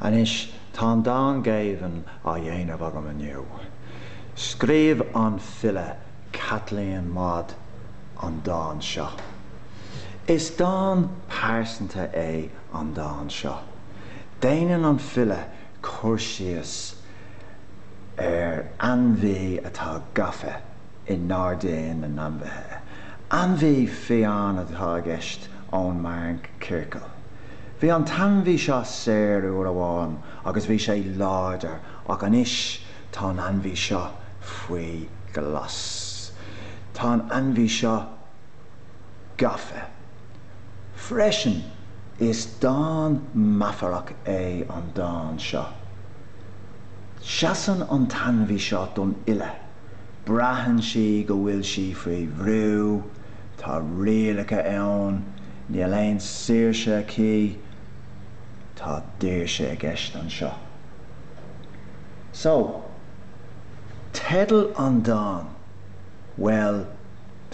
Anois tá an dán Géibheann á dhéanamh agam inniu. Scríobh an file Caitlín Maude an dán seo. Is dán pearsanta é an dán seo. Déanann an file cur síos ar ainmhí atá gafa. i nGairdín na nAinmhithe. Ainmhí fiáin atá i gceist ón mhórchiorcal. Bhí an t-ainmhí seo saor uair amháin agus bhí sé láidir ach anois tá an ainmhí seo faoi ghlas. Tá an ainmhí seo gafa freisin. Is dán meafarach é an dán seo. Seasann an t-ainmhí seo don fhile. Braitheann sí go bhfuil sí faoi bhrú, tá rialacha ann, níl aon saoirse aici, tá daoirse i gceist anseo. So, teideal an dán, bhuel,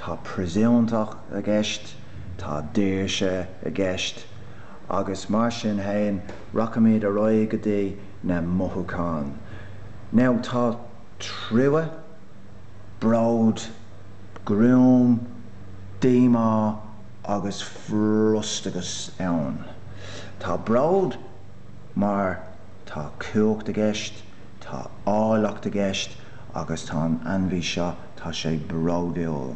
tá príosúnach i gceist, tá daoirse i gceist, agus mar sin fhéin, rachaimid ar aghaidh go dtí na mothúcháin. Now, tá. trua, bród, gruaim, díomá agus frustrachas ann. Tá bród mar tá cumhacht i gceist, tá áilleacht i gceist agus tá an ainmhí seo, tá sé bródúil.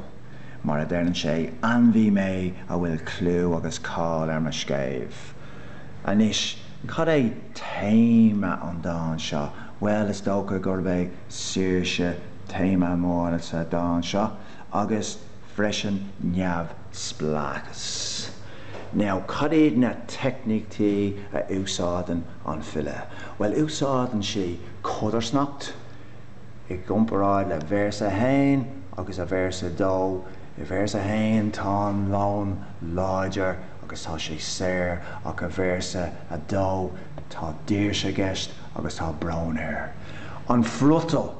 Mar a deireann sé, Ainmhí mé a bhfuil clú agus cáil ar mo scéimh. Anois, cad é téama an dáin seo? Bhuel, is dócha gurb é saoirse téama mór sa dán seo, agus freisin neamhspleáchas. Now, cad iad na teicníochtaí a úsáideann an file? Bhuel, úsáideann sí codarsnacht, i gcomparáid le véarsa a haon agus a véarsa a dó. I véarsa a haon tá an leon láidir agus tá sé saor, ach i véarsa a dó tá daoirse i gceist. agus tá brón air. An friotal!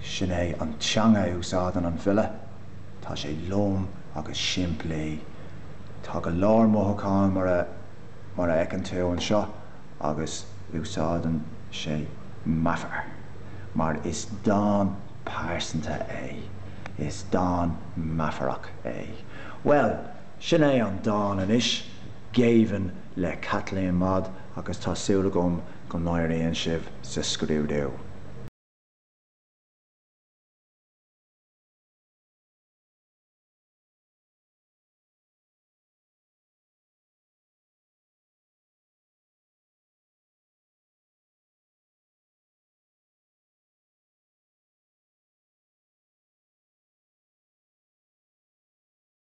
Sin é an teanga a úsáideann an file. Tá sé lom agus simplí. Tá go leor mothúcháin mar a fheiceann tú anseo agus úsáideann sé meafar. Mar is dán pearsanta é. Is dán meafarach é. Bhuel! Sin é an dán anois, Géibheann le Caitlín Maude agus tá súil agam go n-éiríonn sibh sa scrúdú.